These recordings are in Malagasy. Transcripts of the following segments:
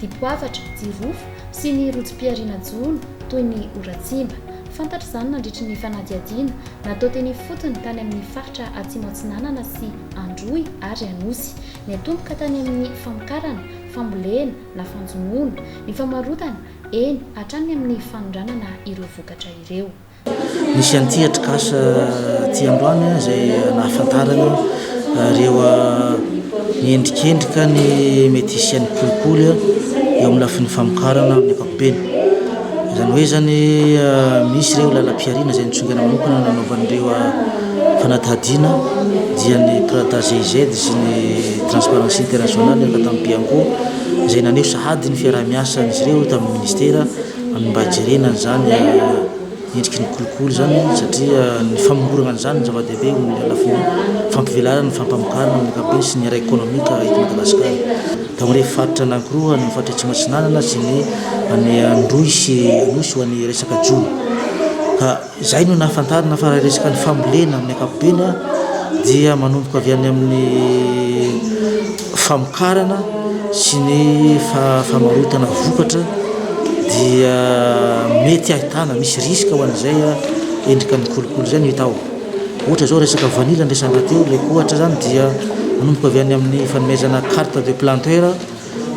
dipoavatra, jirofo sy ny rotsi-pihariana jono toy ny oratsimba. Fantatra izany nandritry ny fanadihadiana natao teny ifotony tany amin'ny faritra Atsimo Atsinanana sy Androy ary Anosy. Niatomboka tany amin'ny famokarana, fambolena na fanjonoana, ny famarotana, eny hatrany amin'ny fanondranana ireo vokatra ireo. Nisy an'ity atrikasa ity androany izay nahafantarana ireo endrikendrika ny mety hisian'ny kolikoly eo amin'ny lafiny famokarana amin'ny ankapobeny. Izany hoe izany misy ireo lalam-pihariana izay nitsongana manokana nanaovan'ireo fanadihadiana dia ny Prada GIZ sy ny Transparency International, Ankatabo Bianco, izay naneho sahady ny fiaraha-miasan'izy ireo tamin'ny minisitera. Amin'ny mba hijerena an'izany endriky ny kolikoly izany satria ny famongorana an'izany no zava-dehibe eo amin'ny lafiny fampivelarana, fampamokarana amin'ny ankapobeny sy ny ara ekonomika eto Madagasikara. Dia amin'ireny faritra anankiroa any amin'ny faritra Atsimo Atsinanana sy ny any Androy sy Anosy ho an'ny resaka jono ka. Izay no nahafantarana fa raha resaka ny fambolena amin'ny ankapobeny dia manomboka avy any amin'ny famokarana sy ny famarotana vokatra dia mety ahitana misy risque ho an'izay endrika ny kolikoly izay no hita ao. Ohatra izao resaka vanila no resahana teo, ilay ohatra izany dia manomboka avy any amin'ny fanomezana carte de planteur.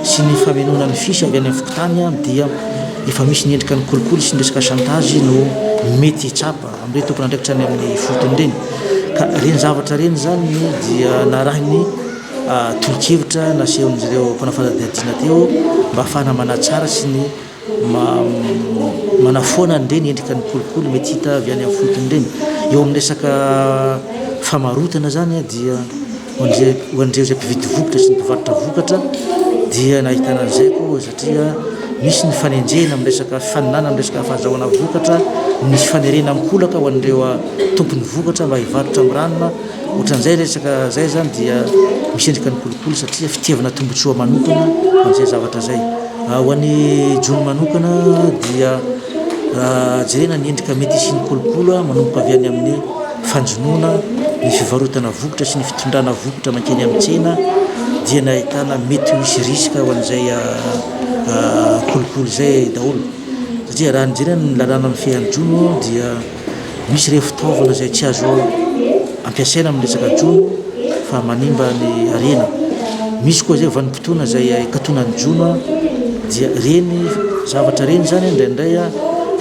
sy ny famenoana ny fils avy any amin'ny fokontany dia efa misy ny endrika ny kolikoly sy ny resaka chantage no mety hitsapa amin'ireny tompon'andraikitra any amin'ny fotony ireny ka ireny zavatra ireny izany dia narahin'ny tolo-kevitra nasehon'izy ireo mpanao fanadihadiana teo mba hahafahana manatsara sy ny Manafoana an'ireny endrika ny kolikoly mety hita avy any amin'ny fotony ireny. Eo amin'ny resaka famarotana izany dia ho an'ireo izay mpividy vokatra sy ny mpivarotra vokatra dia nahitana an'izay koa satria misy ny fanenjehana amin'ny resaka fifaninanana amin'ny resaka fahazahoana vokatra, misy fanerena an-kolaka ho an'ireo tompon'ny vokatra mba hivarotra miranona. Ohatran'izay resaka izay izany dia misy endrika ny kolikoly satria fitiavana tombotsoa manokana amin'izay zavatra izay. Ho an'i John manokana dia raha jerena ny endrika mety hisian'ny kolikoly manomboka avy any amin'ny fanjonoana ny fivarotana vokatra sy ny fitondrana vokatra mankeny amin'ny tsena dia ny ahitana mety ho hisy risque ho an'izay kolikoly izay daholo satria raha ny jerena ny lalàna mifehy an'i John dia Misy ireo fitaovana izay tsy azo ampiasaina amin'ny resaka jono fa manimba ny harena. Misy koa izay vanim-potoana izay hikatona ny jono dia ireny zavatra ireny izany indraindray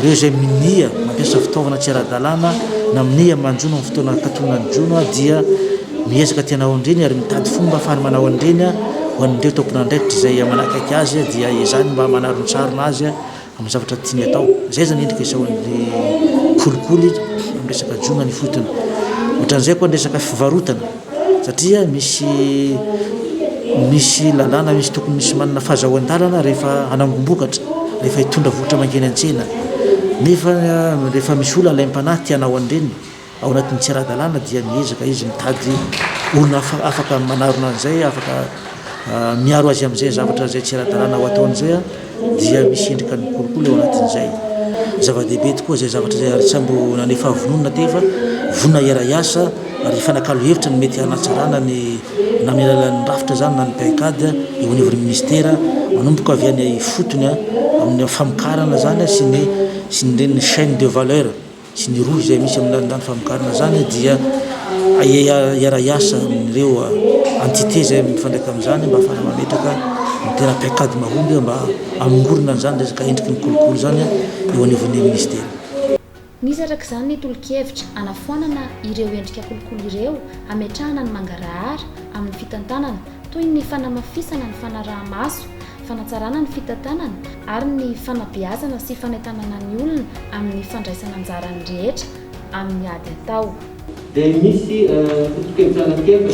ireo izay minia mampiasa fitaovana tsy ara-dalàna na minia manjono amin'ny fotoana hikatona ny jono dia miezaka te hanao an'ireny ary mitady fomba ahafahany manao an'ireny ho an'ireo tompon'andraikitra izay manakaiky azy dia izany mba manarontsarona azy. amin'ny zavatra tiany atao. Izay izany endrika isaoran'ilay kolikoly amin'ny resaka jono any ifotony. Ohatran'izay koa ny resaka fivarotana satria misy misy lalàna misy tokony misy manana fahazahoan-dalana rehefa hanangom-bokatra, rehefa hitondra vokatra mankeny an-tsena nefa rehefa misy olona alaim-panahy te hanao an'ireny Ao anatin'ny tsy ara-dalàna dia miezaka izy mitady olona afaka manarona an'izay, afaka miaro azy amin'izay zavatra izay tsy ara-dalàna ho ataony izay, dia misy endrika ny kolikoly ao anatin'izay. Zava-dehibe tokoa izay zavatra izay ary tsy ampy nanome fahavononana aty fa vonona hiara-hiasa ary hifanakalo hevitra ny mety hanatsarana ny na amin'ny alalan'ny rafitra izany na ny PAICAD eo anivon'ny minisitera manomboka avy any ifotony amin'ny famokarana izany sy ny sy ny ireny chaine de valeur. sy ny rohy izay misy amin'izany lany famokarana izany dia hiara-hiasa amin'ireo entités izay mifandraika amin'izany mba hahafahana mametraka ny toeram-piakady mahomby mba hamongorana an'izany resaka endriky ny kolikoly izany eo anivon'ny minisitera. Misy araka izany ny tolo-kevitra hanafoanana ireo endrika kolikoly ireo hametrahana ny mangarahara amin'ny fitantanana toy ny fanamafisana ny fanaraha-maso fanatsarana ny fitantanana ary ny fanabeazana sy fanentanana ny olona amin'ny fandraisana anjaran'ny rehetra amin'ny ady atao. Dia misy foto-piantrana telo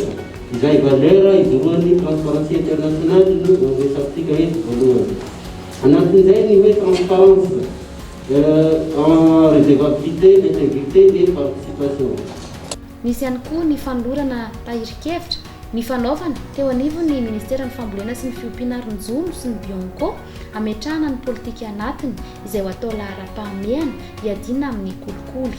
izay valeur ijoroan'ny transparence internationale no resafintsika eto voalohany. Anatin'izay ny hoe transparence en redevabilité, integrité et participation. Misy ihany koa ny fanolorana tahirin-kevitra Ny fanaovana, teo anivon'ny Ministeran'ny Fambolena sy ny Fiompiana ary ny Jono sy ny Bionco, hametrahana ny politika anatiny izay ho atao laharam-pahamehana hiadiana amin'ny kolikoly.